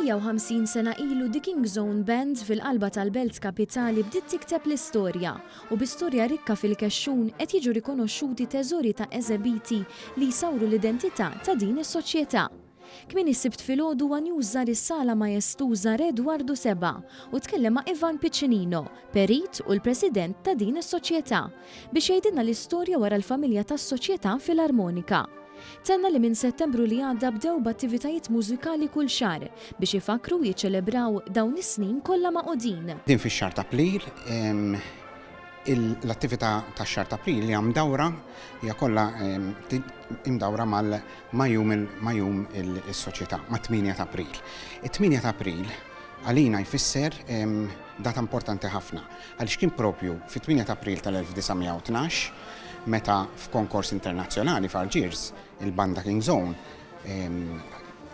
150 sena ilu The King's Own Band fil-qalba tal-belt kapitali bdiet tikteb l-istorja u bi storja rikka fil-kexxun qed jiġu rikonoxxuti teżori ta' eżebiti li jsawru l-identità ta' din is-soċjetà. Kmieni s-Sibt filgħodu One News żar is-Sala Maestuża Re Edwardu Seba' u tkellem ma' Ivan Piccinino, perit u l-President ta' din is-soċjetà. biex jgħidilna l-istorja wara l-familja tas-Soċjetà Filarmonika. Tenna li minn Settembru li għadda bdew b'attivitajiet mużikali kull xahar biex ifakkru u jiċċelebraw dawn is-snin kollha magħqudin. Din fix-xahar ta' April, l-attività tax-xahar ta' April hija mdawra, hija kollha imdawra mal ma' jum ma' jum is-Soċjetà, mat-tmienja ta' April. It-tmienja ta' April għalina jfisser data importanti ħafna. Għaliex kien proprju fit-8 ta' April tal-1912 meta f'konkors internazzjonali f'Algiers il-banda King's Own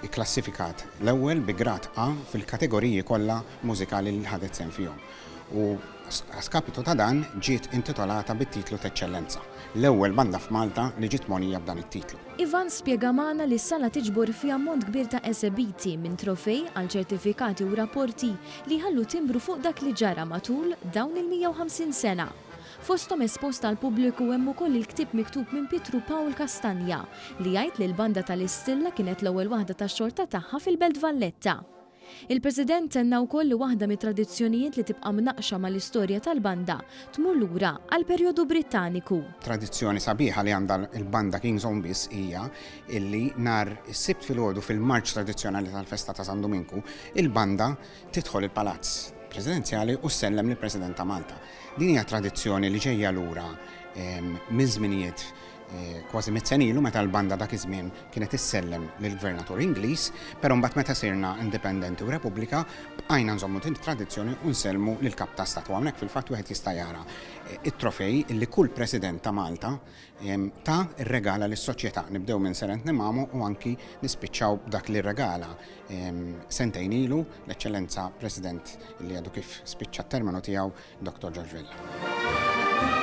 ikklassifikat l-ewwel bi grad A fil-kategoriji kollha mużikali li ħadet sehem fihom u a skapitu ta' dan ġiet intitolata bit-titlu t'eċċellenza, l-ewwel banda f'Malta li ġiet mogħnija b'dan it-titlu. Ivan spjega magħna li s-sala tiġbor fi ammont kbir ta' esebiti, minn trofej għal ċertifikati u rapporti, li jħallu timbru fuq dak li ġara matul dawn il-150 sena. Fosthom espost għall-pubbliku hemm ukoll il-ktieb miktub minn Pietru Pawl Castagna li jgħid li l-Banda tal-Istilla kienet l-ewwel waħda tax-xorta tagħha fil-Belt Valletta. Il-President tenna wkoll li waħda mit-tradizzjonijiet li tibqa' mnaqqxa mal-istorja tal-Banda tmur lura għall-perjodu Brittaniku. Tradizzjoni sabiħa li għandha l-Banda King's Own biss hija illi nhar is-Sibt filgħodu fil-marċ tradizzjonali tal-festa ta' San Duminku, Il-banda tidħol il-Palazz Presidenzjali u ssellem lill-President ta' Malta. Din hija tradizzjoni li ġejja lura minn żminijiet kważi mitt sen ilu meta l-banda dak iż-żmien kienet issellem lill-Gvernatur Ingliż, però mbagħad meta sirna indipendenti u Repubblika bqajna nżommu din it-tradizzjoni u nsellmu lill-Kap ta' Stat. U hawnhekk fil-fatt wieħed jista' jara t-trofej li kull President ta' Malta ta, irregala lis-soċjetà. Nibdew minn Sir Anthony Mamo u anki nispiċċaw b'dak li rregala sentejn ilu l-Eċċellenza President li għadu kif spiċċa t-terminu tiegħu Dr. George Vella.